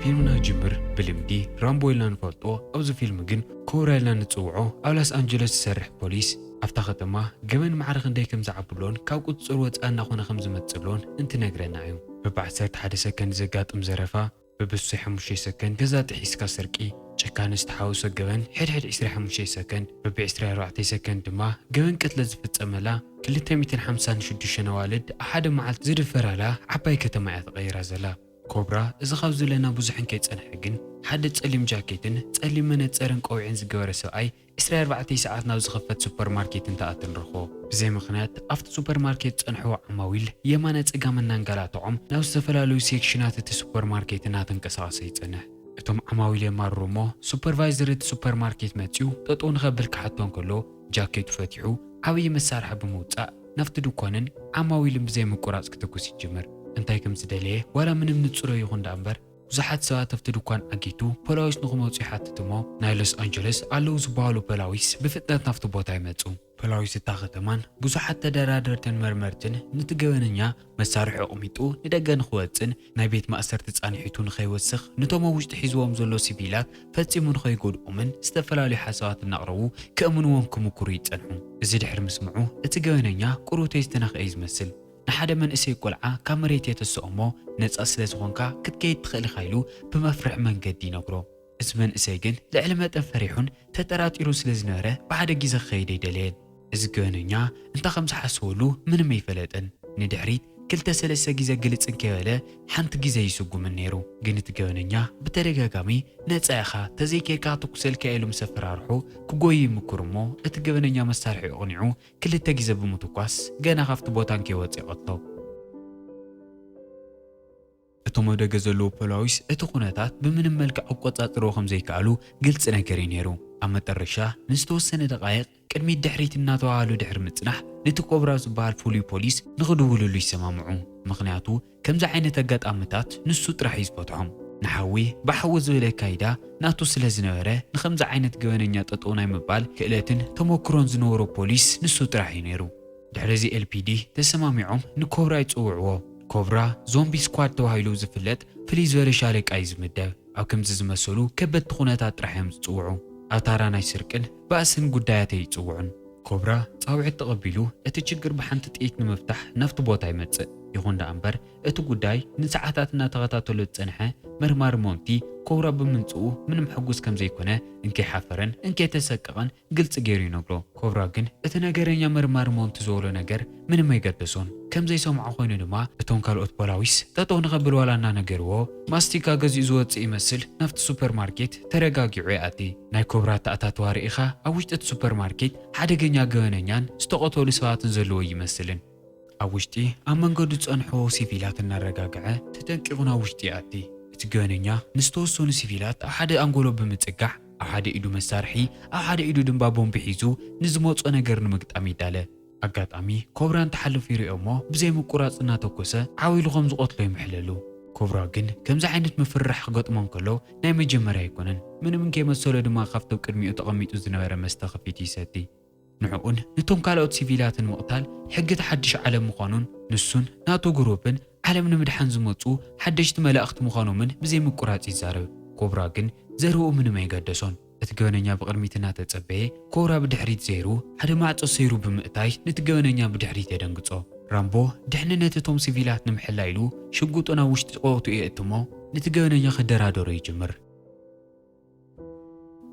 ፊልምና ይጅምር ብልምዲ ራምቦ ኢልና ንፈልጦ ኣብዚ ፊልም ግን ኮብራ ኢልና ንጽውዖ ኣብ ላስ ኣንጀለስ ዝሰርሕ ፖሊስ ኣብታ ከተማ ገበን ማዕረ ክንደይ ከም ዝዓብሎን ካብ ቁጽጽር ወጻኢ እናኾነ ከም ዝመጽእ ሎን እንትነግረና እዩ። በብ ዓሰርተ ሓደ ሰከንድ ዘጋጥም ዘረፋ፣ ብብዝሒ ሓሙሽተ ሰከንድ ገዛ ጥሒስካ ስርቂ፣ ጭካነ ዝተሓወሶ ገበን ሕድሕድ ዕስራ ሓሙሽተ ሰከንድ፣ በብዕስራይ ኣርባዕተይ ሰከንድ ድማ ገበን ቅትለት ዝፍጸመላ ክልተ ሚእትን ሓምሳን ሽዱሽተን ኣዋልድ ኣብ ሓደ መዓልቲ ዝድፈራላ ዓባይ ከተማ እያ ተቐይራ ዘላ። ኮብራ እዚ ካብ ዝብለና ብዙሕን ከይጸንሐ ግን ሓደ ጸሊም ጃኬትን ጸሊም መነጸርን ቆቢዕን ዝገበረ ሰብኣይ ዕስራ ኣርባዕተ ሰዓት ናብ ዝኽፈት ሱፐር ማርኬት እንትኣቱ ንረኽቦ። ብዘይ ምኽንያት ኣብቲ ሱፐር ማርኬት ዝጸንሑ ዓማዊል የማነ ጸጋመ እናንገላትዖም ናብ ዝተፈላለዩ ሴክሽናት እቲ ሱፐር ማርኬት እናተንቀሳቐሰ ይጸንሕ። እቶም ዓማዊል የማርሩ እሞ ሱፐርቫይዘር እቲ ሱፐር ማርኬት መጺኡ ጠጠው ንኸብል ክሓቶ እንከሎ ጃኬቱ ፈቲሑ ዓብዪ መሳርሒ ብምውጻእ ናብቲ ድኳንን ዓማዊልን ብዘይ ምቁራጽ ክትኩስ ይጅምር። እንታይ ከም ዝደለየ ዋላ ምንም ንጹረይ ይኹን ደኣምበር ብዙሓት ሰባት ኣብቲ ድኳን ዓጊቱ ፖላዊስ ንኽመጹ ይሓትት እሞ ናይ ሎስ ኣንጀለስ ኣለዉ ዝበሃሉ ፖላዊስ ብፍጥነት ናብቲ ቦታ ይመጹ። ፖላዊስ እታ ከተማን ብዙሓት ተደራደርትን መርመርትን ነቲ ገበነኛ መሳርሑ ኣቕሚጡ ንደገ ንኽወጽእን ናይ ቤት ማእሰርቲ ጻንሒቱ ንኸይወስኽ ነቶም ኣብ ውሽጢ ሒዝዎም ዘሎ ሲቪላት ፈጺሙ ንኸይጎድኦምን ዝተፈላለዩ ሓሳባት እናቕረቡ ከእምንዎም ክምኩሩ ይጸንሑ። እዚ ድሕሪ ምስምዑ እቲ ገበነኛ ቁሩተይ ዝተነኽኤ እዩ ዝመስል። ንሓደ መንእሰይ ቆልዓ ካብ መሬት የተስኦ እሞ ነጻ ስለ ዝኾንካ ክትከይድ ትኽእል ኢኻ ኢሉ ብመፍርሒ መንገዲ ይነግሮ። እዚ መንእሰይ ግን ልዕሊ መጠን ፈሪሑን ተጠራጢሩን ስለ ዝነበረ ብሓደ ግዜ ክኸይድ ኣይደለየን። እዚ ገበነኛ እንታይ ከም ዝሓሰበሉ ምንም ኣይፈለጠን። ንድሕሪት ክልተ ሰለስተ ግዜ ግልጽ እንከይበለ ሓንቲ ግዜ ይስጉምን ነይሩ። ግን እቲ ገበነኛ ብተደጋጋሚ ነጻ ኢኻ ተዘይከይድካ ክተኩሰልካ እየ ኢሉ ምስ ኣፈራርሖ ክጎዩ ይምኩር እሞ እቲ ገበነኛ መሳርሒኡ ኣቕኒዑ ክልተ ግዜ ብምትኳስ ገና ካብቲ ቦታ እንከይወጸ ይቐትሎ። እቶም ኣብ ደገ ዘለዉ ፖላዊስ እቲ ኩነታት ብምንም መልክዕ ክቆጻጸርዎ ከም ዘይከኣሉ ግልጺ ነገር እዩ ነይሩ። ኣብ መጠረሻ ንዝተወሰነ ደቓይቕ ቅድሚት ድሕሪት እናተዋሃሃሉ ድሕሪ ምጽናሕ ነቲ ኮብራ ዝበሃል ፍሉይ ፖሊስ ንኽድውልሉ ይሰማምዑ። ምኽንያቱ ከምዚ ዓይነት ኣጋጣምታት ንሱ ጥራሕ እዩ ዝፈትሖም። ንሓዊ ብሓዊ ዝብል ኣካይዳ ናቱ ስለ ዝነበረ፣ ንኸምዚ ዓይነት ገበነኛ ጠጠው ናይ ምባል ክእለትን ተሞክሮን ዝነበሮ ፖሊስ ንሱ ጥራሕ እዩ ነይሩ። ድሕሪ እዚ ኤልፒዲ ተሰማሚዖም ንኮብራ ይጽውዕዎ። ኮብራ፣ ዞምቢ ስኳድ ተባሂሉ ዝፍለጥ ፍልይ ዝበለ ሻለቃ እዩ ዝምደብ። ኣብ ከምዚ ዝመሰሉ ከበድቲ ኩነታት ጥራሕ እዮም ዝጽውዑ። ኣብ ታራ ናይ ስርቅን ባእስን ጉዳያት ኣይጽውዑን። ኮብራ ጻውዒት ተቐቢሉ እቲ ችግር ብሓንቲ ጥይት ንምፍታሕ ናብቲ ቦታ ይመጽእ። ይኹን ደኣ እምበር እቲ ጉዳይ ንሰዓታት እናተኸታተሎ ዝጸንሐ መርማሪ ሞንቲ ኮብራ ብምምጽኡ ምንም ሕጉስ ከምዘይኮነ እንከይሓፈረን እንከይተሰቀቐን ግልፂ ገይሩ ይነግሮ። ኮብራ ግን እቲ ነገረኛ መርማሪ ሞንቲ ዝበሎ ነገር ምንም ኣይገደሶን። ከም ዘይሰምዖ ኮይኑ ድማ እቶም ካልኦት ፖላዊስ ጠጠው ንኸብል ዋላ እናነገርዎ ማስቲካ ገዚኡ ዝወፅእ ይመስል ናብቲ ሱፐር ማርኬት ተረጋጊዑ ይኣቲ። ናይ ኮብራ ኣተኣታትዋ ርኢኻ ኣብ ውሽጢ እቲ ሱፐር ማርኬት ሓደገኛ ገበነኛን ዝተቐተሉ ሰባትን ዘለዎ ኣይመስልን። ኣብ ውሽጢ ኣብ መንገዱ ዝጸንሖ ሲቪላት እናረጋግዐ ተጠንቂቑ ናብ ውሽጢ ይኣቲ። እቲ ገበነኛ ንዝተወሰኑ ሲቪላት ኣብ ሓደ ኣንጎሎ ብምጽጋዕ፣ ኣብ ሓደ ኢዱ መሳርሒ ኣብ ሓደ ኢዱ ድምባ ቦምቢ ሒዙ ንዝመጾ ነገር ንምግጣም ይዳለ። ኣጋጣሚ ኮብራ እንትሓልፍ ይርእዮ'ሞ ብዘይምቁራጽ እናተኮሰ ዓው ኢሉ ከም ዝቐትሎ ይምሕለሉ። ኮብራ ግን ከምዚ ዓይነት ምፍርራሕ ክገጥሞ እንከሎ ናይ መጀመርያ ኣይኮነን። ምንም እንከይመሰሎ ድማ ካብቲ ኣብ ቅድሚኡ ተቐሚጡ ዝነበረ መስተ ከፊቱ ይሰቲ። ንዕኡን ንቶም ካልኦት ሲቪላትን ምቕታል ሕጊ እቲ ሓድሽ ዓለም ምዃኑን ንሱን ናቱ ግሩፕን ዓለም ንምድሓን ዝመጹ ሓደሽቲ መላእኽቲ ምዃኖምን ብዘይምቁራጽ ይዛረብ። ኮብራ ግን ዘረብኡ ምንም ኣይገደሶን። እቲ ገበነኛ ብቕድሚት እናተጸበየ ኮብራ ብድሕሪት ዘይሩ ሓደ ማዕጾ ሰይሩ ብምእታይ ነቲ ገበነኛ ብድሕሪት የደንግጾ። ራምቦ ድሕንነት እቶም ሲቪላት ንምሕላይ ኢሉ ሽጉጡ ናብ ውሽጢ ቆቕትኡ የእትሞ ነቲ ገበነኛ ክደራደሮ ይጅምር።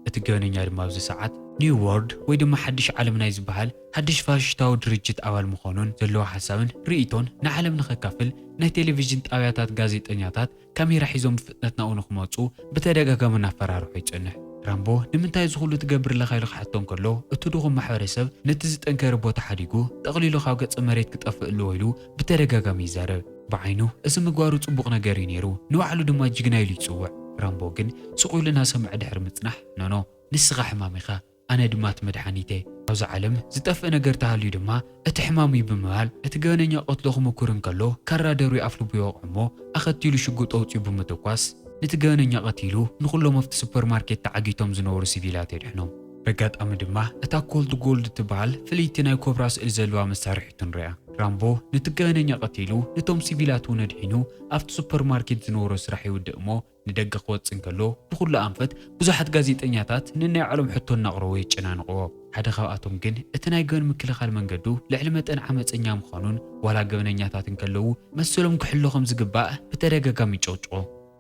እቲ ገበነኛ ድማ ኣብዚ ሰዓት፣ ኒው ዎርልድ ወይ ድማ ሓድሽ ዓለም ናይ ዝበሃል ሓድሽ ፋሽሽታዊ ድርጅት ኣባል ምዃኑን ዘለዎ ሓሳብን ርእይቶን ንዓለም ንኸካፍል ናይ ቴሌቪዥን ጣብያታት ጋዜጠኛታት ካሜራ ሒዞም ብፍጥነት ናብኡ ንኽመጹ ብተደጋጋሚ እናፈራርሖ ይጸንሕ። ራምቦ ንምንታይ እዚ ኹሉ ትገብር ኣለኻ ኢሉ ክሓቶ እንከሎ እቲ ድኹም ማሕበረሰብ ነቲ ዝጠንከረ ቦታ ሓዲጉ ጠቕሊሉ ካብ ገጸ መሬት ክጠፍእ ኣለዎ ኢሉ ብተደጋጋሚ ይዛረብ። ብዓይኑ እዚ ምግባሩ ጽቡቕ ነገር እዩ ነይሩ፣ ንባዕሉ ድማ ጅግና ኢሉ ይጽውዕ። ራምቦ ግን ስቕ ኢሉ እናሰምዐ ድሕሪ ምጽናሕ፣ ኖኖ፣ ንስኻ ሕማም ኢኻ፣ ኣነ ድማ እቲ መድሓኒት እየ። ኣብዛ ዓለም ዝጠፍእ ነገር ተሃልዩ ድማ እቲ ሕማም እዩ ብምባል እቲ ገበነኛ ክቐትሎ ክሙኩር እንከሎ ካራ ደርብዩ ኣፍልቡ ይወቕዖ እሞ ኣኸቲሉ ሽጉጥ ኣውጺኡ ብምትኳስ ነቲ ገበነኛ ቀቲሉ ንኹሎም ኣብቲ ሱፐርማርኬት ተዓጊቶም ዝነበሩ ሲቪላት የድሕኖም። በጋጣሚ ድማ እታ ኮልድ ጎልድ እትበሃል ፍልይቲ ናይ ኮብራ ስእሊ ዘለዋ መሳርሒቱ ንሪኣ። ራምቦ ነቲ ገበነኛ ቀቲሉ ነቶም ሲቪላት እውን ኣድሒኑ ኣብቲ ሱፐር ማርኬት ዝነበሮ ስራሕ ይውድእ እሞ ንደገ ክወጽእ እንከሎ ብኹሉ ኣንፈት ብዙሓት ጋዜጠኛታት ነናይ ባዕሎም ሕቶ እናቕረቡ የጨናንቕዎ። ሓደ ካብኣቶም ግን እቲ ናይ ገበን ምክልኻል መንገዱ ልዕሊ መጠን ዓመጸኛ ምዃኑን ዋላ ገበነኛታት እንከለዉ መሰሎም ክሕሎ ከም ዝግባእ ብተደጋጋሚ ይጭቕጭቖ።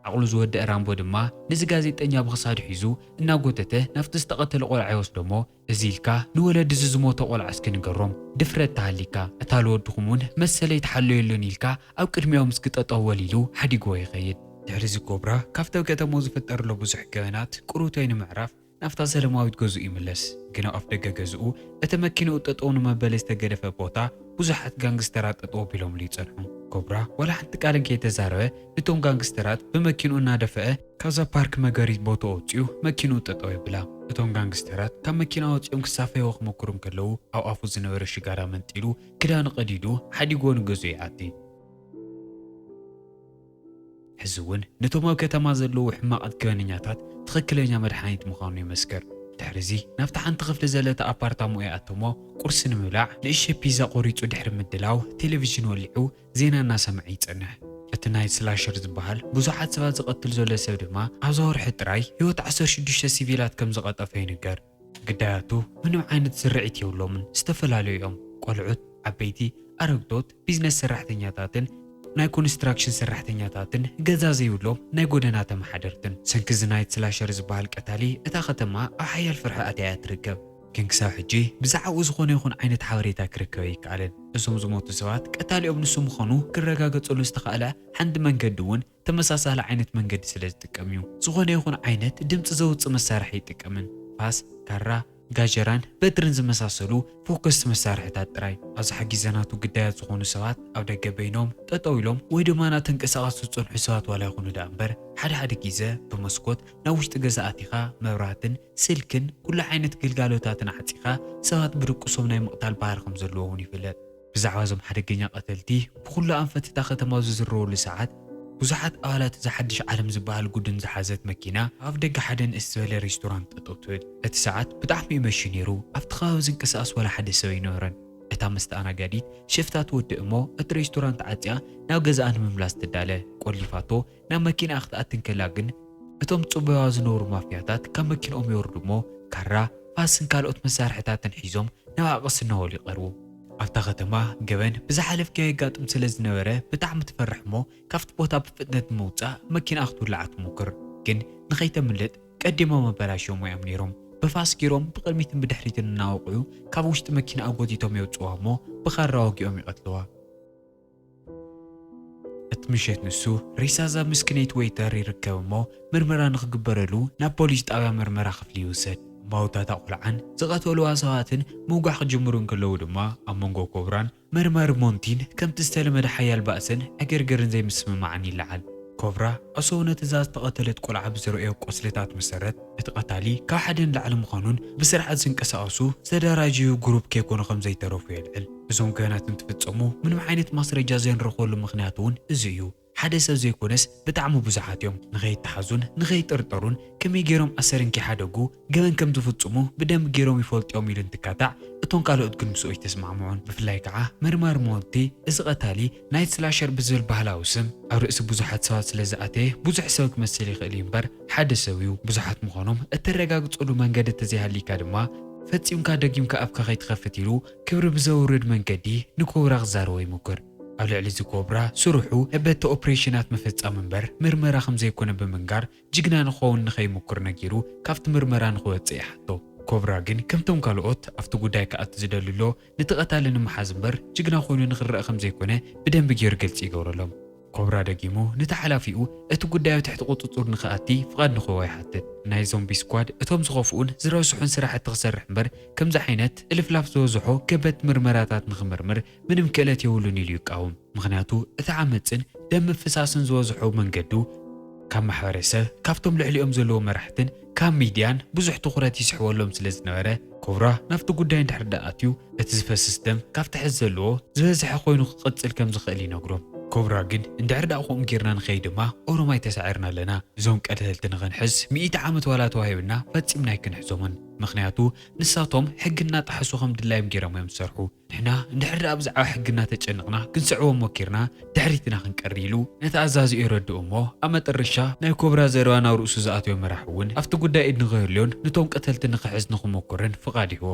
ዓቕሉ ዝወደኣ ራምቦ ድማ ነዚ ጋዜጠኛ ብኽሳዱ ሒዙ እናጎተተ ናብቲ ዝተቐተለ ቆልዓ ይወስዶ'ሞ እዚ ኢልካ ንወለዲ እዚ ዝሞተ ቆልዓ እስኪ ንገሮም ድፍረት ተሃሊካ እታ ልወድኹም ውን መሰለይ ተሓለዮሉኒ ኢልካ ኣብ ቅድሚኦም እስኪ ጠጠው በል ኢሉ ሓዲግዎ ይኸይድ። ድሕሪ'ዚ ኮብራ ካብቲ ኣብ ከተማኡ ዝፍጠር ዘሎ ብዙሕ ገበናት ቁሩብቶይ ንምዕራፍ፣ ናብታ ሰለማዊት ገዝኡ ይምለስ፣ ግን ኣብ ኣፍደገ ገዝኡ፣ እቲ መኪንኡ ጠጠው ንመበሊ ዝተገደፈ ቦታ፣ ብዙሓት ጋንግስተራት ጠጠው ኣቢሎምሉ ይጸንሑ። ኮብራ ዋላ ሓንቲ ቃልን ከይተዛረበ ንቶም ጋንግስተራት ብመኪንኡ እናደፈኣ፣ ካብዛ ፓርክ መገሪት ቦትኡ ኣውጺኡ መኪንኡ ጠጠው የብላ፣ እቶም ጋንግስተራት ካብ መኪና ወጺኦም ክሳፈይዎ ክሞክሩ እንከለዉ፣ ኣብ ኣፉ ዝነበረ ሽጋራ መንጢሉ ክዳኑ ቀዲዱ ሓዲግዎ ንገዝኡ ይኣቲ። ሕዚ'ውን ነቶም ኣብ ከተማ ዘለዉ ሕማቓት ገበነኛታት ትኽክለኛ መድሓኒት ምዃኑ ይመስክር። ድሕሪ'ዚ ናብታ ሓንቲ ክፍሊ ዘለታ ኣፓርታማኡ ይኣት'ሞ ቁርሲ ንምብላዕ ንእሽተይ ፒዛ ቆሪጹ ድሕሪ ምድላው ቴለቪዥን ወሊዑ ዜና እናሰምዐ ይጸንሕ። እቲ ናይት ስላሸር ዝበሃል ብዙሓት ሰባት ዝቐትል ዘሎ ሰብ ድማ ኣብዛ ወርሒ ጥራይ ህይወት ዓሰርተ ሽዱሽተ ሲቪላት ከምዝቐጠፈ ይንገር። ግዳያቱ ምንም ዓይነት ስርዒት የብሎምን፣ ዝተፈላለዩ እዮም፣ ቆልዑት፣ ዓበይቲ፣ ኣረግቶት፣ ቢዝነስ ሰራሕተኛታትን ናይ ኮንስትራክሽን ሰራሕተኛታትን ገዛ ዘይብሎም ናይ ጎደና ተመሓደርትን። ሰንኪ እዚ ናይት ስላሸር ዝበሃል ቀታሊ እታ ከተማ ኣብ ሓያል ፍርሒ ኣትያ እያ ትርከብ። ግን ክሳብ ሕጂ ብዛዕብኡ ዝኾነ ይኹን ዓይነት ሓበሬታ ክርከብ ኣይከኣልን። እዞም ዝሞቱ ሰባት ቀታሊኦም ንሱ ምዃኑ ክረጋገጸሉ ዝተኻእለ ሓንቲ መንገዲ እውን፣ ተመሳሳሊ ዓይነት መንገዲ ስለ ዝጥቀም እዩ። ዝኾነ ይኹን ዓይነት ድምጺ ዘውጽእ መሳርሒ ኣይጥቀምን፣ ፋስ፣ ካራ፣ ጋጀራን በትርን ዝመሳሰሉ ፎከስቲ መሳርሒታት ጥራይ። ኣብዚ ሓጊዘ ናቱ ግዳያት ዝኾኑ ሰባት ኣብ ደገ በይኖም ጠጠው ኢሎም ወይ ድማ እናተንቀሳቐሱ ዝጸንሑ ሰባት ዋላ ይኹኑ ደኣ እምበር ሓደ ሓደ ጊዘ ብመስኮት ናብ ውሽጢ ገዛ ኣቲኻ መብራህትን ስልክን ኩሉ ዓይነት ግልጋሎታትን ዓጺኻ ሰባት ብድቁሶም ናይ ምቕታል ባህሪ ከም ዘለዎ እውን ይፍለጥ። ብዛዕባ እዞም ሓደገኛ ቀተልቲ ብኹሉ ኣንፈት እታ ከተማ ኣብ ዝዝረወሉ ሰዓት፣ ብዙሓት ኣባላት እዛ ሓድሽ ዓለም ዝበሃል ጉድን ዝሓዘት መኪና ኣብ ኣፍደገ ሓደ ንእስ ዝበለ ሬስቶራንት ጠጠው ትብል። እቲ ሰዓት ብጣዕሚ እዩ መሽዩ ነይሩ፣ ኣብቲ ከባቢ ዝንቀሳቐስ ዋላ ሓደ ሰብ ኣይነበረን። እታ መስተኣናጋዲት ሽፍታ ትወድእ እሞ እቲ ሬስቶራንት ዓፅያ ናብ ገዝኣ ንምምላስ ትዳለ፣ ቆሊፋቶ፣ ናብ መኪንኣ ክትኣቲ እንከላ ግን እቶም ዝጽበዩዋ ዝነበሩ ማፍያታት ካብ መኪንኦም ይወርዱ እሞ ካራ፣ ፋስን ካልኦት መሳርሒታትን ሒዞም ናብኣ ቀስ እናበሉ ይቐርቡ። ኣብታ ከተማ ገበን ብዝሓለፍክዮ የጋጥም ስለ ዝነበረ ብጣዕሚ ትፈርሕ እሞ ካብቲ ቦታ ብፍጥነት ንምውጻእ መኪንኣ ክትውልዓ ትሙክር። ግን ንኸይተምልጥ ቀዲሞም ኣበላሽዮምዋ እዮም ነይሮም። ብፋስ ገይሮም ብቕድሚትን ብድሕሪትን እናወቕዑ ካብ ውሽጢ መኪንኣ ጎቲቶም የውጽኡዋ እሞ ብኻራ ወጊኦም ይቐትሉዋ። እቲ ምሸት ንሱ ሬሳ እዛ ምስክነይቲ ወይተር ይርከብ እሞ ምርመራ ንኽግበረሉ ናብ ፖሊስ ጣብያ ምርመራ ክፍሊ ይውሰድ። እማውታ እታ ቆልዓን ዝቐተሉዋ ሰባትን ምውጋሕ ክጅምሩ እንከለዉ ድማ ኣብ መንጎ ኮብራን መርማሪ ሞንቲን ከምቲ ዝተለመደ ሓያል ባእስን ዕግርግርን ዘይምስምማዕን ይለዓል። ኮብራ ዕሱብ ነቲ እዛ ዝተቐተለት ቆልዓ ብዘርእዮ ቁስልታት መሰረት እቲ ቀታሊ ካብ ሓደ ንላዕሊ ምዃኑን ብስርዓት ዝንቀሳቐሱ ዝተደራጀዩ ጉሩብ ከይኮኑ ከምዘይተረፉ የልዕል። እዞም ገበናት እንትፍፀሙ ምንም ዓይነት ማስረጃ ዘይንረኽበሉ ምኽንያት እውን እዚ እዩ። ሓደ ሰብ ዘይኮነስ ብጣዕሚ ብዙሓት እዮም ንኸይተሓዙን ንኸይጥርጠሩን ከመይ ገይሮም ኣሰር እንከይሓደጉ ገበን ከምዝፍፅሙ ብደንቢ ገይሮም ይፈልጡ እዮም ኢሉ እንትካታዕ እቶም ካልኦት ግን ምስኡ ኣይተስማዕምዑን። ብፍላይ ከዓ መርማሪ ሞንቲ እዚ ቐታሊ ናይት ስላሸር ብዝብል ባህላዊ ስም ኣብ ርእሲ ብዙሓት ሰባት ስለዝኣተየ ብዙሕ ሰብ ክመስል ይኽእል እዩ እምበር ሓደ ሰብ እዩ። ብዙሓት ምዃኖም እተረጋግፀሉ መንገዲ እንተዘይሃልይካ ድማ ፈፂምካ ደጊምካ ኣፍካ ከይትኸፍት ኢሉ ክብሪ ብዘውርድ መንገዲ ንኮብራ ክዛረቦ ይሙክር። ኣብ ልዕሊ እዚ ኮብራ ስርሑ በቲ ኦፕሬሽናት ምፍጻም እምበር ምርመራ ከምዘይኮነ ብምንጋር ጅግና ንክኸውን ንከይሙክር ነጊሩ ካብቲ ምርመራ ንክወጽእ ይሓቶ። ኮብራ ግን ከምቶም ካልኦት ኣብቲ ጉዳይ ክኣቱ ዝደሊ ኣሎ ነቲ ቀታሊ ንምሓዝ እምበር ጅግና ኮይኑ ንክረኣ ከምዘይኮነ ብደንቢ ገይሩ ግልጺ ይገብረሎም። ኮብራ ደጊሙ ነቲ ሓላፊኡ እቲ ጉዳይ ኣብ ትሕቲ ቁጽጹር ንኽኣቲ ፍቓድ ንኽህቦ ይሓትት። ናይ ዞምቢ ስኳድ እቶም ዝኸፍኡን ዝረስሑን ስራሕቲ ክሰርሕ እምበር ከምዚ ዓይነት እልፍላፍ ዝበዝሖ ከበድቲ ምርመራታት ንኽምርምር ምንም ክእለት የብሉን ኢሉ ይቃወም። ምኽንያቱ እቲ ዓመጽን ደም ምፍሳስን ዝበዝሖ መንገዱ ካብ ማሕበረሰብ፣ ካብቶም ልዕሊኦም ዘለዉ መራሕትን፣ ካብ ሚድያን ብዙሕ ትኹረት ይስሕበሎም ስለ ዝነበረ ኮብራ ናብቲ ጉዳይ እንድሕር ድኣ ኣትዩ እቲ ዝፈስስ ደም ካብቲ ሕዚ ዘለዎ ዝበዝሐ ኮይኑ ክቕፅል ከም ዝኽእል ይነግሮም። ኮብራ ግን እንድሕር ድኣ ከምኡ ጌርና ንኸይድ ድማ ኦሮማይ ተሳዒርና ኣለና እዞም ቀተልቲ ንኽንሕዝ ሚእቲ ዓመት ዋላ ተዋሂብና ፈፂምና ኣይክንሕዞምን ምኽንያቱ ንሳቶም ሕጊ እናጠሓሱ ከም ድላዮም ጌሮም እዮም ዝሰርሑ ንሕና እንድሕር ደኣ ብዛዕባ ሕጊ እናተጨነቕና ክንስዕቦ ሞኪርና ድሕሪት ኢና ክንቀሪ ኢሉ ነቲ ኣዛዚኡ የረድኦ እሞ ኣብ መጠረሻ ናይ ኮብራ ዘረባ ናብ ርእሱ ዝኣተወ መራሒ እውን ኣብቲ ጉዳይ ኢድ ንኸህልዮን ንቶም ቀተልቲ ንኽሕዝ ንኽሞክርን ፍቓድ ይህቦ።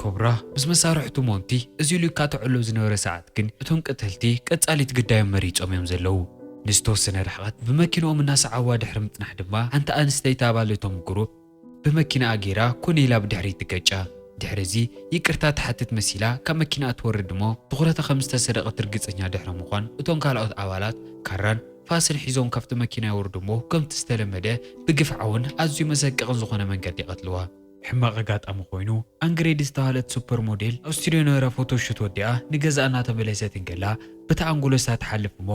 ኮብራ ምስ መሳርሕቱ ሞንቲ እዚ ኢሉ ይካትዐሎም ዝነበረ ሰዓት ግን እቶም ቀተልቲ ቀጻሊት ግዳዮም መሪጾም እዮም ዘለዉ። ንዝተወሰነ ርሕቐት ብመኪንኦም እናሰዓብዋ ድሕሪ ምጽናሕ ድማ ሓንቲ ኣንስተይቲ ኣባል እቶም ጉሩፕ፣ ብመኪናኣ ገይራ ኮነ ኢላ ብድሕሪት ትገጫ። ድሕሪ እዚ ይቅርታ ትሓትት መሲላ ካብ መኪናኣ ትወርድ እሞ ትኹረታ ከም ዝተሰረቐት ርግፀኛ ድሕሪ ምዃን እቶም ካልኦት ኣባላት ካራን ፋስን ሒዞም ካብቲ መኪና የውርዱ እሞ ከምቲ ዝተለመደ ብግፍዓውን ኣዝዩ መሰቀቕን ዝኾነ መንገዲ ይቐትልዋ። ሕማቕ ኣጋጣሚ ኮይኑ ኣንግሬድ ዝተባህለት ሱፐር ሞዴል ኣብ ስቱድዮ ነበራ ፎቶ ሹት ወዲኣ ንገዝኣ እናተመለሰት እንከላ ብታ ኣንጎሎሳ ትሓልፍ እሞ፣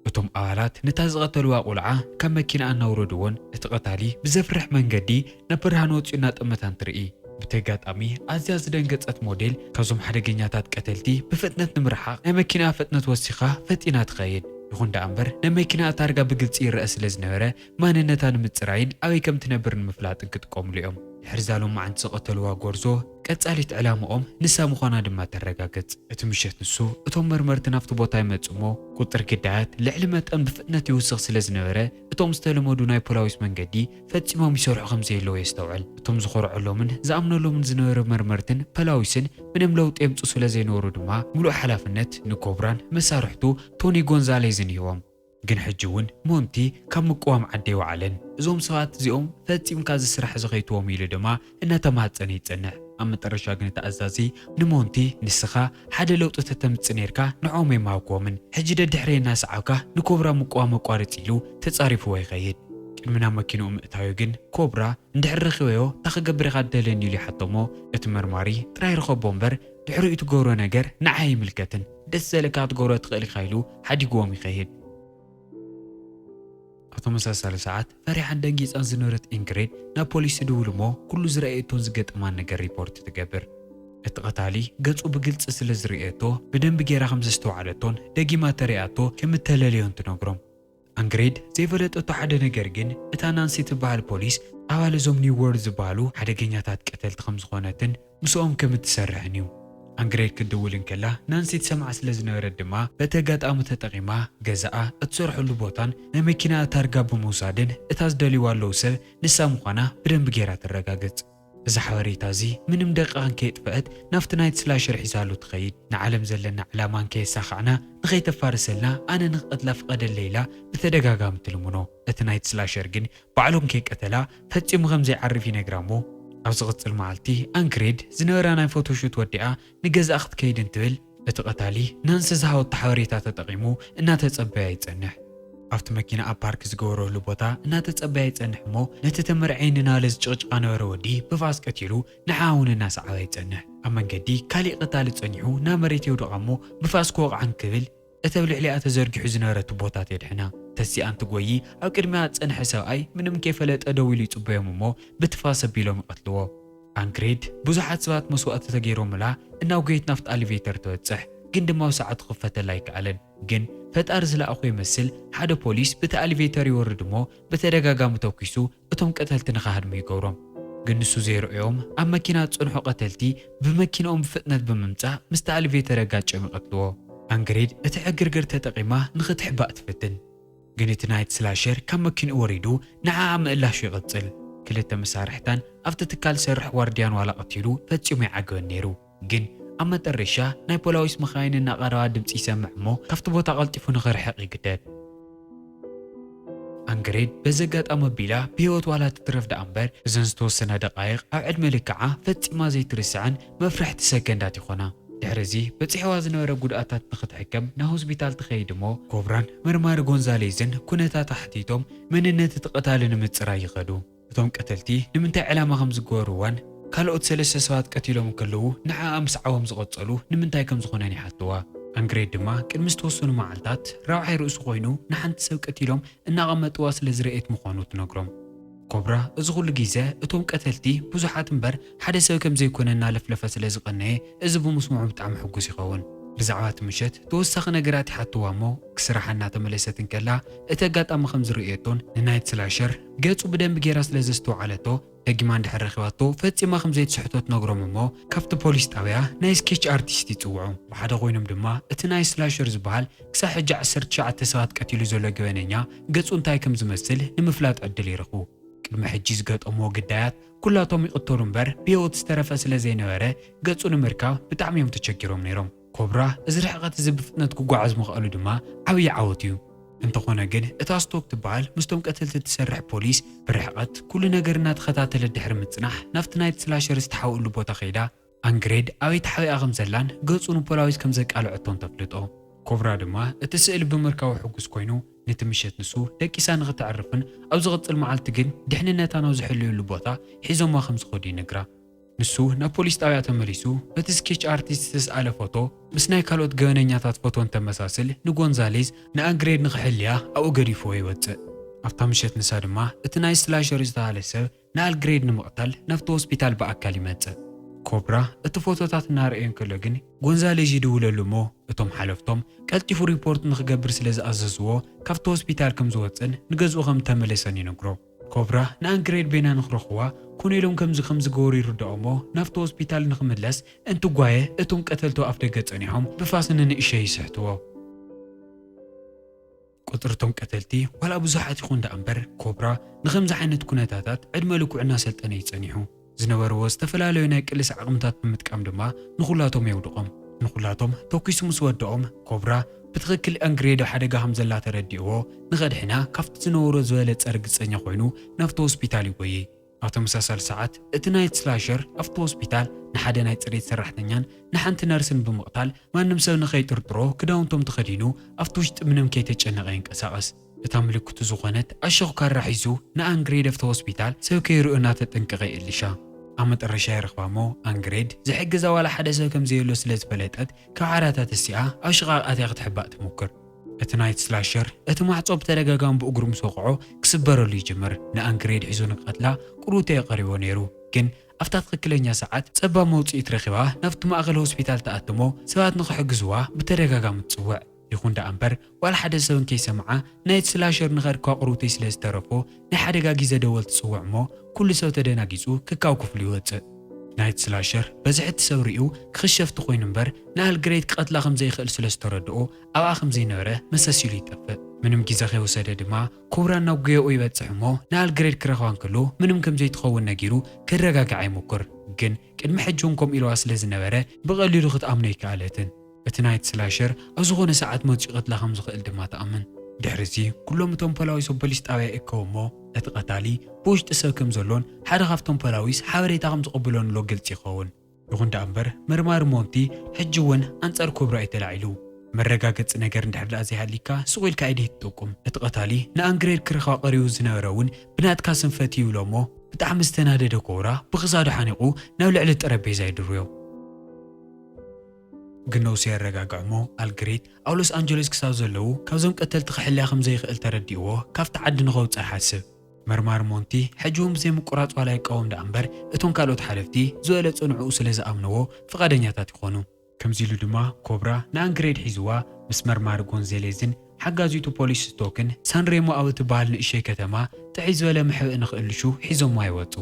እቶም ኣባላት ነታ ዝቐተልዋ ቁልዓ ካብ መኪናኣ እናውረድዎን እቲ ቀታሊ ብዘፍርሕ መንገዲ ናብ ብርሃን ወጺኡ እናጠመታ እንትርኢ፣ ብቲ ኣጋጣሚ ኣዝያ ዝደንገጸት ሞዴል ካብዞም ሓደገኛታት ቀተልቲ ብፍጥነት ንምርሓቕ ናይ መኪናኣ ፍጥነት ወሲኻ ፈጢና ትኸይድ። ይኹን ደኣ እምበር ናይ መኪናኣ ታርጋ ብግልጺ ይረኣ ስለ ዝነበረ ማንነታ ንምጽራይን ኣበይ ከም ትነብር ንምፍላጥን ክጥቀምሉ እዮም። ድሕሪ'ዛ ሎማዕንቲ ዝቐተልዋ ጎርዞ፣ ቀጻሊት ዕላምኦም ንሳ ምዃና ድማ ተረጋግጽ። እቲ ምሸት ንሱ፣ እቶም መርመርቲ ናብቲ ቦታ ይመጹ እሞ፣ ቁጽሪ ግዳያት ልዕሊ መጠን ብፍጥነት ይውስኽ ስለ ዝነበረ፣ እቶም ዝተለመዱ ናይ ፖላዊስ መንገዲ ፈጺሞም ይሰርሑ ከም ዘየለዉ የስተውዕል። እቶም ዝኾርዐሎምን ዝኣምነሎምን ዝነበረ መርመርትን ፖላዊስን ምንም ለውጢ የምጽኡ ስለ ዘይነበሩ ድማ፣ ምሉእ ሓላፍነት ንኮብራን መሳርሕቱ ቶኒ ጎንዛሌዝን ሂቦም። ግን ሕጂ ውን ሞንቲ ካብ ምቅዋም ዓዲ ኣይወዓለን። እዞም ሰባት እዚኦም ፈጺምካ እዚ ስራሕ እዚ ከይትዎም ኢሉ ድማ እናተማህጸነ ይጸንሕ። ኣብ መጠረሻ ግን እቲ ኣዛዚ ንሞንቲ ንስኻ ሓደ ለውጢ ተተምጽእ ኔርካ ንዕኦም ኣይምሃብክዎምን። ሕጂ ደድሕረይ እናሰዓብካ ንኮብራ ምቅዋም ኣቋርጽ ኢሉ ተጻሪፍዎ ይኸይድ። ቅድሚ ናብ መኪንኡ ምእታዩ ግን ኮብራ እንድሕር ረኺበዮ ታይ ክገብር ኢኻ ትደልየኒ ኢሉ ይሓቶ እሞ እቲ መርማሪ ጥራይ ርኸቦ እምበር ድሕሪኡ ትገብሮ ነገር ንዓይ ኣይምልከትን። ደስ ዘልካ ትገብሮ ትክእል ኢካ ኢሉ ሓዲግዎም ይከይድ። ኣብ ተመሳሳሊ ሰዓት ፈሪሓን ደንጊጻን ዝነበረት ኢንግሪድ ናብ ፖሊስ ትድውል እሞ ኩሉ ዝረኣየቶን ዝገጠማን ነገር ሪፖርት ትገብር። እቲ ቀታሊ ገጹ ብግልጺ ስለ ዝርእየቶ ብደንቢ ጌራ ከም ዘስተውዓለቶን ደጊማ ተሪኣቶ ከም እተለለዮን ትነግሮም። ኣንግሬድ ዘይፈለጠቶ ሓደ ነገር ግን እታ ናንሲ ትበሃል ፖሊስ ኣባል እዞም ኒው ዎርልድ ዝበሃሉ ሓደገኛታት ቀተልቲ ከም ዝኾነትን ምስኦም ከም እትሰርሕን እዩ። ኣንግሬድ ክትድውል እንከላ ናንሲ ትሰምዓ ስለ ዝነበረት ድማ በቲ ኣጋጣሚ ተጠቒማ ገዛኣ፣ እትሰርሐሉ ቦታን ናይ መኪናኣ ታርጋ ብምውሳድን እታ ዝደልይዋ ኣለዉ ሰብ ንሳ ምዃና ብደንቢ ገይራ ተረጋግጽ። እዛ ሓበሬታ እዚ ምንም ደቂቓን ከየጥፈኣት ናብቲ ናይት ስላሸር ሒዛሉ ትኸይድ። ንዓለም ዘለና ዕላማ እንከየሳኻዕና ንኸይተፋርሰልና ኣነ ንክቐትላ ፍቐደለይ ኢላ ብተደጋጋሚ ትልምኖ። እቲ ናይት ስላሸር ግን ባዕሉ እንከይቀተላ ፈጺሙ ከምዘይዓርፍ ይነግራ'ሞ፣ ኣብ ዝቕጽል መዓልቲ ኣንክሬድ ዝነበራ ናይ ፎቶ ሹት ወዲኣ ንገዛእ ክትከይድ እንትብል እቲ ቀታሊ ናንሲ ዝሃወቶ ሓበሬታ ተጠቒሙ እናተጸበያ ይጸንሕ። ኣብቲ መኪናኣ ፓርክ ዝገበረሉ ቦታ እናተጸበያ ይጸንሕ እሞ ነቲ ተመርዕየ ንናለ ዝጭቕጭቓ ነበረ ወዲ ብፋስ ቀቲሉ ንዓኣ እውን እናሰዓባ ይጸንሕ። ኣብ መንገዲ ካሊእ ቀታሊ ጸኒሑ ናብ መሬት የውድቓ እሞ ብፋስ ክወቕዓ እንክብል እቲ ኣብ ልዕሊኣ ተዘርጊሑ ዝነበረ ቱቦታት የድሕና። ተሲኣ እንትጎዪ ኣብ ቅድሚኣ ዝጸንሐ ሰብኣይ ምንም ከይፈለጠ ደው ኢሉ ይጽበዮም እሞ ብትፋስ ኣቢሎም ይቐትልዎ። ኣንግሪድ ብዙሓት ሰባት መስዋእቲ ተገይሮምላ እናጎየት ናብቲ ኣሊቬተር ትበጽሕ ግን ድማ ኣብ ሰዓቱ ክፈተላ ኣይከኣለን። ግን ፈጣሪ ዝለኣኾ ይመስል ሓደ ፖሊስ ብቲ ኣሊቬተር ይወርድ እሞ ብተደጋጋሚ ተኲሱ እቶም ቀተልቲ ንክሃድሙ ይገብሮም ግን ንሱ ዘይርኦዮም ኣብ መኪና ዝጸንሑ ቀተልቲ ብመኪንኦም ብፍጥነት ብምምጻእ ምስቲ ኣልቬተር ኣጋጭዮም ይቀትልዎ። ኣንግሪድ እቲ ዕግርግር ተጠቂማ ንክትሕባእ ትፍትን ግን እቲ ናይት ስላሸር ካብ መኪንኡ ወሪዱ ንዓኣ ምእላሹ ይቅጽል። ክልተ መሳርሕታን ኣብቲ ትካል ዝሰርሕ ዋርድያን ዋላ ቀቲሉ ፈጺሙ ኣይዓገበን ነይሩ። ግን ኣብ መጠረሻ ናይ ፖላዊስ መኻይን እናቐረባ ድምጺ ይሰምዕ እሞ ካብቲ ቦታ ቀልጢፉ ንኽርሕቕ ይግደድ። ኣንግሬድ በዚ ኣጋጣሚ ኣቢላ ብህይወት ዋላ ትትረፍ ደኣ እምበር እዘን ዝተወሰና ደቓይቕ ኣብ ዕድመ ልክዓ ፈጺማ ዘይትርስዐን መፍርሕቲ ሰከንዳት ይኾና። ድሕሪ እዚ በጺሕዋ ዝነበረ ጉድኣታት ንኽትሕከም ናብ ሆስፒታል ትኸይድ እሞ ኮብራን መርማሪ ጎንዛሌዝን ኩነታታ ሓቲቶም መንነት እቲ ቀታሊ ንምጽራይ ይኸዱ። እቶም ቀተልቲ ንምንታይ ዕላማ ከም ዝገበርዋን፣ ካልኦት ሰለስተ ሰባት ቀቲሎም እንከለዉ ንዓኣ ምስዓቦም ዝቐጸሉ ንምንታይ ከም ዝኾነን ይሓትዋ። ኣንግሬድ ድማ ቅድሚ ዝተወሰኑ መዓልታት ራብዓይ ርእሱ ኮይኑ ንሓንቲ ሰብ ቀቲሎም እናቐመጥዋ ስለ ዝረኤት ምዃኑ ትነግሮም። ኮብራ እዚ ኩሉ ግዘ እቶም ቀተልቲ ብዙሓት እምበር ሓደ ሰብ ከም ዘይኮነ እናለፍለፈ ስለ ዝቐነየ እዚ ብምስምዑ ብጣዕሚ ሕጉስ ይኸውን። ብዛዕባ እቲ ምሸት ተወሳኺ ነገራት ይሓትዋ እሞ ክስራሓ እናተመለሰት እንከላ እቲ ኣጋጣሚ ከም ዝረኤቶን ንናይት ስላሸር ገጹ ብደንቢ ጌራ ስለ ዘስተውዓለቶ ደጊማ እንድሕር ረኺባቶ ፈጺማ ከም ዘይትስሕቶ ትነግሮም እሞ ካብቲ ፖሊስ ጣብያ ናይ ስኬች ኣርቲስት ይጽውዑ። ብሓደ ኮይኖም ድማ እቲ ናይ ስላሸር ዝበሃል ክሳዕ ሕጂ ዓሰርተ ትሽዓተ ሰባት ቀቲሉ ዘሎ ገበነኛ ገጹ እንታይ ከም ዝመስል ንምፍላጥ ዕድል ይረኽቡ። ቅድሚ ሕጂ ዝገጠምዎ ግዳያት ኩላቶም ይቕተሉ እምበር ብህይወት ዝተረፈ ስለ ዘይነበረ ገጹ ንምርካብ ብጣዕሚ እዮም ተቸጊሮም ነይሮም። ኮብራ እዚ ርሕቐት እዚ ብፍጥነት ክጓዓዝ ምኽኣሉ ድማ ዓብዪ ዓወት እዩ። እንተኾነ ግን እታ ስቶክ ትበሃል ምስቶም ቀተልቲ እትሰርሕ ፖሊስ ብርሕቐት ኩሉ ነገር እናተኸታተለት ድሕሪ ምፅናሕ ናብቲ ናይቲ ስላሸር ዝተሓውእሉ ቦታ ከይዳ ኣንግሬድ ኣበይ ተሓቢኣ ከምዘላን ገፁ ንፖላዊስ ከምዘቃለዐቶን ተፍልጦ። ኮብራ ድማ እቲ ስእሊ ብምርካቡ ሕጉስ ኮይኑ ነቲ ምሸት ንሱ ደቂሳ ንኽተዕርፍን ኣብ ዝቕፅል መዓልቲ ግን ድሕንነታ ናብ ዝሕለየሉ ቦታ ሒዞማ ከምዝኸዱ ይነግራ። ንሱ ናብ ፖሊስ ጣብያ ተመሊሱ በቲ ስኬች ኣርቲስት ዝተስኣለ ፎቶ ምስ ናይ ካልኦት ገበነኛታት ፎቶ እንተመሳስል ንጎንዛሌዝ ንኣንግሬድ ንክሕልያ ኣብኡ ገዲፍዎ ይወፅእ። ኣብታ ምሸት ንሳ ድማ እቲ ናይ ስላሸር ዝተሃለ ሰብ ንኣልግሬድ ንምቕታል ናብቲ ሆስፒታል ብኣካል ይመፅእ። ኮብራ እቲ ፎቶታት እናረኣዮ እንከሎ ግን ጎንዛሌዥ ይድውለሉ እሞ እቶም ሓለፍቶም ቀልጢፉ ሪፖርት ንክገብር ስለዝኣዘዝዎ ካብቲ ሆስፒታል ከምዝወፅእን ንገዝኡ ከምተመለሰን ይነግሮ። ኮብራ ንኣንግሬድ ቤና ንክረኽዋ ኮኔሎም ከምዚ ከምዚ ገበሩ ይርድኦሞ ናብቲ ሆስፒታል ንክምለስ እንትጓየ እቶም ቀተልቱ ኣፍደገ ጸኒሖም ብፋስ ንንእሸይ ይስሕትዎ። ቁጽሪ እቶም ቀተልቲ ዋላ ብዙሓት ይኹን ደኣምበር ኮብራ ንኸምዚ ዓይነት ኩነታታት ዕድመ ልክዑ እናሰልጠነ እዩ ጸኒሑ። ዝነበርዎ ዝተፈላለዩ ናይ ቅልስ ዓቕምታት ብምጥቃም ድማ ንኹላቶም የውድቖም። ንኹላቶም ተኲሱ ምስ ወደኦም፣ ኮብራ ብትኽክል ኣንግሬዶ ሓደጋ ከም ዘላ ተረዲእዎ ንኸድሕና ካብቲ ዝነበሮ ዝበለጸ ርግጸኛ ኮይኑ ናብቲ ሆስፒታል ይጎዪ። ኣብ ተመሳሳሊ ሰዓት እቲ ናይት ስላሸር ኣብቲ ሆስፒታል ንሓደ ናይ ጽሬት ሰራሕተኛን ንሓንቲ ነርስን ብምቕታል ማንም ሰብ ንኸይጥርጥሮ ክዳውንቶም ተኸዲኑ ኣብቲ ውሽጢ ምንም ከይተጨነቐ ይንቀሳቐስ። እታ ምልክቱ ዝኾነት ኣሸኹ ካራ ሒዙ ንኣንግሬድ ኣብቲ ሆስፒታል ሰብ ከይርኡ እናተጠንቀቐ የእልሻ። ኣብ መጠረሻ ይረኽባ እሞ ኣንግሬድ ዝሕግዛ ዋላ ሓደ ሰብ ከም ዘየሎ ስለ ዝፈለጠት ካብ ዓራታ ተሲኣ ኣብ ሽቓቕ ኣትያ ክትሕባእ ትሙክር። እቲ ናይት ስላሸር እቲ ማዕጾ ብተደጋጋሚ ብእግሩ ምስ ወቕዖ ክስበረሉ ይጅምር። ንኣንግሬድ ሒዙ ንክቐትላ ቁርቡ ተየቐሪቦ ነይሩ። ግን ኣብታ ትኽክለኛ ሰዓት ጸባብ መውጽኢት ረኺባ ናብቲ ማእከል ሆስፒታል ትኣቱ እሞ ሰባት ንክሕግዝዋ ብተደጋጋሚ ትጽውዕ። ይኹን ደኣ እምበር ዋላ ሓደ ሰብ እንከይሰምዓ ናይቲ ስላሸር ንኸድ ኳቑርውተይ ስለ ዝተረፎ ናይ ሓደጋ ጊዘ ደወል ትጽውዕ እሞ ኩሉ ሰብ ተደናጊጹ ክካው ክፍሉ ይወጽእ። ናይቲ ስላሸር በዝሒ እቲ ሰብ ሪኡ ክኽሸፍ ተኾይኑ እምበር ንኣል ግረይት ክቐትላ ከም ዘይኽእል ስለ ዝተረድኦ ኣብኣ ከም ዘይነበረ መሰስ ኢሉ ይጠፍእ። ምንም ጊዘ ከይወሰደ ድማ ኩብራን ናብ ጉያኡ ይበጽሕ እሞ ንኣል ግረይት ክረኽባ እንከሎ ምንም ከም ዘይትኸውን ነጊሩ ከረጋግዓ ይሙኩር ግን ቅድሚ ሕጂ እውን ከምኡ ኢልዋ ስለ ዝነበረ ብቐሊሉ ክትኣምኖ ኣይከኣለትን። እቲ ናይት ስላሸር ኣብ ዝኾነ ሰዓት መጺኡ ይቐትላ ከም ዝኽእል ድማ ትኣምን። ድሕሪዚ ኩሎም እቶም ፖላዊስ ኣብ ፖሊስ ጣብያ ይእከቡ እሞ እቲ ቀታሊ ብውሽጢ ሰብ ከም ዘሎን ሓደ ካብቶም ፖላዊስ ሓበሬታ ከም ዝቕብሎን እሎ ግልጺ ይኸውን። ይኹን ደኣ እምበር መርማሪ ሞንቲ ሕጂ እውን ኣንጻር ክብሩ ኣዩ ተላዒሉ። መረጋገጺ ነገር እንድሕር ደኣ ዘይሃልይካ ሱቕ ኢልካ ኢድይ ትጠቁም። እቲ ቀታሊ ንኣንግሬድ ክረኽባ ቀሪቡ ዝነበረ እውን ብናትካ ስንፈት እዩ ኢሎሞ ብጣዕሚ ዝተናደደ ኮብራ ብክሳዱ ሓኒቁ ናብ ልዕሊ ጠረጴዛ ይድርብዮ። ግን ነውሱ የረጋግዕሞ ኣልግሪክ ኣብ ሎስ ኣንጀለስ ክሳብ ዘለዉ ካብዞም ቀተልቲ ክሕልያ ከም ዘይክእል ተረዲእዎ ካብቲ ዓዲ ንከውጽእ ይሓስብ። መርማሪ ሞንቲ ሕጂ እውን ብዘይ ምቁራጽ ዋላ ይቃወም ደኣ እምበር እቶም ካልኦት ሓለፍቲ ዝበለጸ ንዕኡ ስለ ዝኣምነዎ ፍቃደኛታት ይኾኑ። ከምዚ ኢሉ ድማ ኮብራ ንኣንግሬድ ሒዝዋ ምስ መርማሪ ጎንዘሌዝን ሓጋዚቱ ፖሊስ ስቶክን ሳንሬሞ ኣብ እትበሃል ንእሸይ ከተማ ጥዕይ ዝበለ መሕብኢ ንኽእልሹ ሒዞምዋ ይወጹ።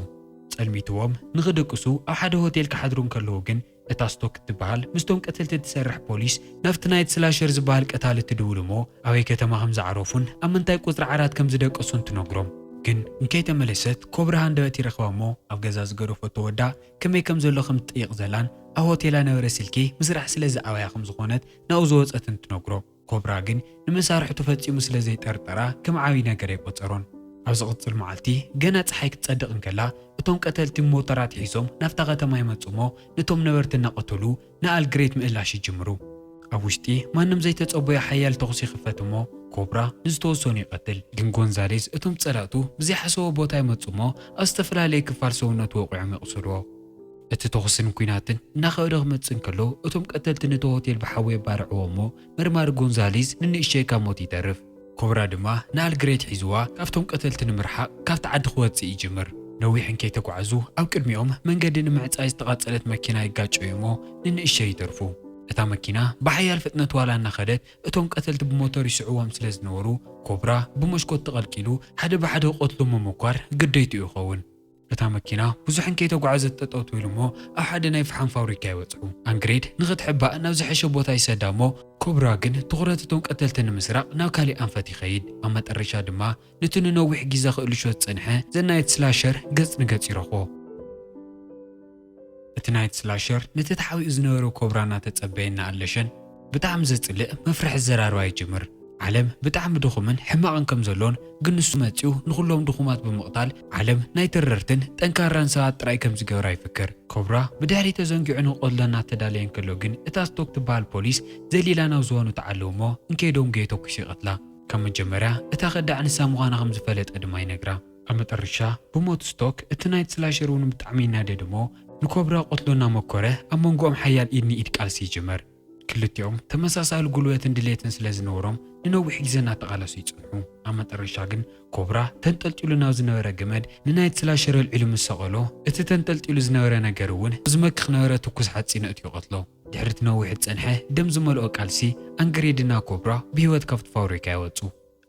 ጸልሚትዎም ንኽድቅሱ ኣብ ሓደ ሆቴል ክሓድሩ እንከለዉ ግን እታ ስቶክ እትበሃል ምስቶም ቀተልቲ እትሰርሕ ፖሊስ ናብቲ ናይት ስላሸር ዝበሃል ቀታሊ ትድውል እሞ ኣበይ ከተማ ከም ዝዓረፉን ኣብ ምንታይ ቁጽሪ ዓራት ከም ዝደቀሱን ትነግሮም ግን እንከይተመለሰት ኮብራ ሃንደበት ይረኽባ እሞ ኣብ ገዛ ዝገደፈቶ ወዳ ከመይ ከም ዘሎ ከም ትጠይቕ ዘላን ኣብ ሆቴላ ነበረ ስልኪ ምስራሕ ስለ ዝኣበያ ከም ዝኾነት ናብኡ ዝወጸትን ትነግሮ። ኮብራ ግን ንመሳርሕቱ ፈጺሙ ስለ ዘይጠርጠራ ከም ዓቢ ነገር ኣይቆጸሮን። ኣብ ዝቕጽል መዓልቲ ገና ጸሓይ ክትጸድቕ እንከላ እቶም ቀተልቲ ሞተራት ሒዞም ናብታ ከተማ ይመጽኡ'ሞ ነቶም ነበርቲ እናቐተሉ ንኣል ግሬት ምእላሽ ይጅምሩ። ኣብ ውሽጢ ማንም ዘይተጸበዮ ሓያል ተኹሲ ይኽፈት እሞ ኮብራ ንዝተወሰኑ ይቐትል። ግን ጎንዛሌዝ እቶም ጸላእቱ ብዘይሓሰቦ ቦታ ይመጹ እሞ ኣብ ዝተፈላለየ ክፋል ሰውነቱ ወቒዖም የቑስልዎ። እቲ ተኹስን ኲናትን እናኸበደ ክመጽእ እንከሎ እቶም ቀተልቲ ነቲ ሆቴል ብሓዊ የባርዕዎ እሞ መርማሪ ጎንዛሌዝ ንንእሽተይ ካብ ሞት ይተርፍ። ኮብራ ድማ ንኣልግሬት ሒዝዋ ካብቶም ቀተልቲ ንምርሓቕ ካብቲ ዓዲ ክወጽእ ይጅምር። ነዊሕ እንከይተጓዕዙ ኣብ ቅድሚኦም መንገዲ ንምዕጻይ ዝተቓጸለት መኪና ይጋጨዩ'ሞ ንንእሽተይ ይተርፉ። እታ መኪና ብሓያል ፍጥነት ዋላ እናኸደት እቶም ቀተልቲ ብሞተር ይስዕዎም ስለ ዝነበሩ ኮብራ ብመስኮት ተቐልቂሉ ሓደ ብሓደ ክቐትሎም ምምኳር ግዴትኡ ይኸውን። እታ መኪና ብዙሕን ከይተጓዕዘት ጠጠው ትብል እሞ ኣብ ሓደ ናይ ፍሓም ፋብሪካ ይበጽሑ። ኣንግሬድ ንኽትሕባእ ናብ ዝሐሸ ቦታ ይሰዳ እሞ ኮብራ ግን ትኹረት እቶም ቀተልቲ ንምስራቕ ናብ ካሊእ ኣንፈት ይኸይድ። ኣብ መጠረሻ ድማ ንቲ ንነዊሕ ጊዘ ክእልሾ ዝጸንሐ ዘናይት ስላሸር ገጽ ንገጽ ይረኽቦ። እቲ ናይት ስላሸር ነቲ ተሓቢኡ ዝነበረ ኮብራ እናተጸበየ እናኣለሸን ብጣዕሚ ዘጽልእ መፍርሒ ኣዘራርባ ይጅምር። ዓለም ብጣዕሚ ድኹምን ሕማቕን ከም ዘሎን ግን ንሱ መጺኡ ንኹሎም ድኹማት ብምቕታል ዓለም ናይ ተረርትን ጠንካራን ሰባት ጥራይ ከም ዝገብራ ይፍክር። ኮብራ ብድሕሪት ተዘንጊዑ ንክቐትሎ እናተዳለየ እንከሎ ግን እታ ስቶክ ትበሃል ፖሊስ ዘሊላ ናብ ዝባኑ ትዓልብ እሞ እንከይዶም ገየተኲሱ ይቐትላ። ካብ መጀመርያ እታ ከዳዕ ንሳ ምዃና ከም ዝፈለጠ ድማ ይነግራ። ኣብ መጠርሻ ብሞት ስቶክ እቲ ናይ ጽላሸር እውን ብጣዕሚ ይናደድ እሞ ንኮብራ ቁትሎ እናመኮረ ኣብ መንጎኦም ሓያል ኢድ ንኢድ ቃልሲ ይጅመር። ክልቲኦም ተመሳሳሊ ጉልበትን ድሌትን ስለ ዝነበሮም ንነዊሕ ግዜ እናተቓለሱ ይጸንሑ። ኣብ መጠርሻ ግን ኮብራ ተንጠልጢሉ ናብ ዝነበረ ገመድ ንናይ ጽላሸር ኣልዒሉ ምስ ሰቐሎ እቲ ተንጠልጢሉ ዝነበረ ነገር እውን ኣብ ዝመክኽ ነበረ ትኩስ ሓጺን ኣእትዩ ይቐትሎ። ድሕሪ እቲ ነዊሕ ዝጸንሐ ደም ዝመልኦ ቃልሲ ኣንግሬድና ኮብራ ብህይወት ካብቲ ፋውሪካ ይወጹ።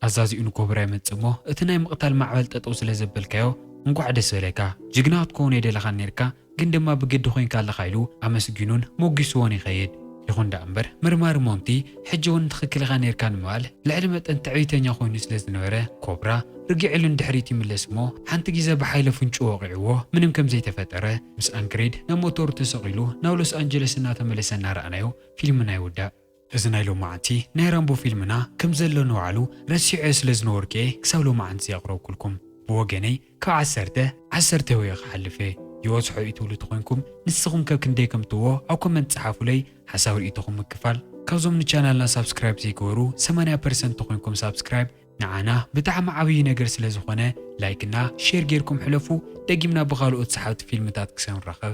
ኣዛዚኡ ንኮብራ ይመጽእ እሞ እቲ ናይ ምቅታል ማዕበል ጠጠው ስለ ዘበልካዮ እንኳዕ ደስ በለካ ጅግና ክትኮውን ኣይደለኻን ኔርካ ግን ድማ ብግዲ ኮንካ ኣለኻ ኢሉ ኣመስጊኑን ሞጊስዎን ይኸይድ ይኹን ደኣ እምበር መርማሪ ሞንቲ ሕጂ ውን ትኽክል ኢኻ ኔርካ ንምባል ልዕሊ መጠን ትዕቢተኛ ኮይኑ ስለ ዝነበረ ኮብራ ርጊዕሉ ንድሕሪት ይምለስ እሞ ሓንቲ ግዘ ብሓይሊ ኣፍንጭኡ ወቒዕዎ ምንም ከም ዘይተፈጠረ ምስ ኣንክሬድ ናብ ሞተሩ ተሰቒሉ ናብ ሎስ ኣንጀለስ እናተመለሰ እናረኣናዮ ፊልምና ይውዳእ። እዚ ናይ ሎማዓንቲ ናይ ራምቦ ፊልምና ክም ዘሎ ንባዕሉ ረሲዐዮ ስለ ዝነበርኩየ ክሳብ ሎማዓንቲ ዘየቅረብኩልኩም ብወገነይ ካብ ዓሰርተ ዓሰርተ ወየ ክሓልፍ እየ ይበዝሖ እዩ ትብሉ ተኮንኩም ንስኩም ከ ክንደይ ከም ትህቦ ኣብ ኮመንት ጸሓፉለይ ሓሳብ ሪኢቶኩም ምክፋል ካብዞም ንቻናልና ሳብስክራይብ ዘይገበሩ ሰማንያ ፐርሰንት ተኮንኩም ሳብስክራይብ ንዓና ብጣዕሚ ዓብይ ነገር ስለ ዝኮነ ላይክ እና ሼር ጌርኩም ሕለፉ ደጊምና ብካልኦት ሰሓብቲ ፊልምታት ክሰንራከብ